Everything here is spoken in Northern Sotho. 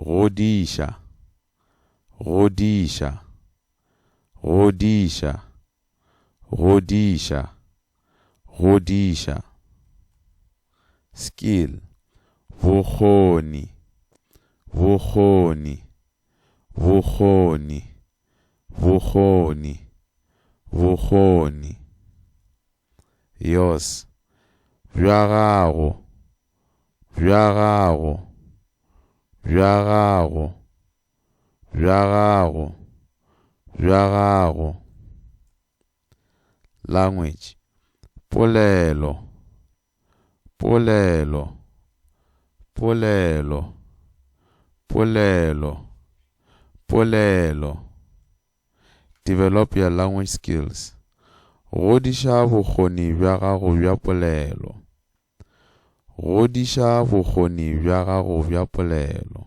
Godiša, godiša, godiša, godiša, godiša. Skill, bokgoni, bokgoni, bokgoni, bokgoni, bokgoni. Yours Bja gago Bja gago Bja gago Bja gago Bja gago Language Polelo Polelo, polelo, polelo, polelo. Develop your language skills. Godiša bokgoni bja gago bja polelo. Godiša bokgoni bja gago bja polelo.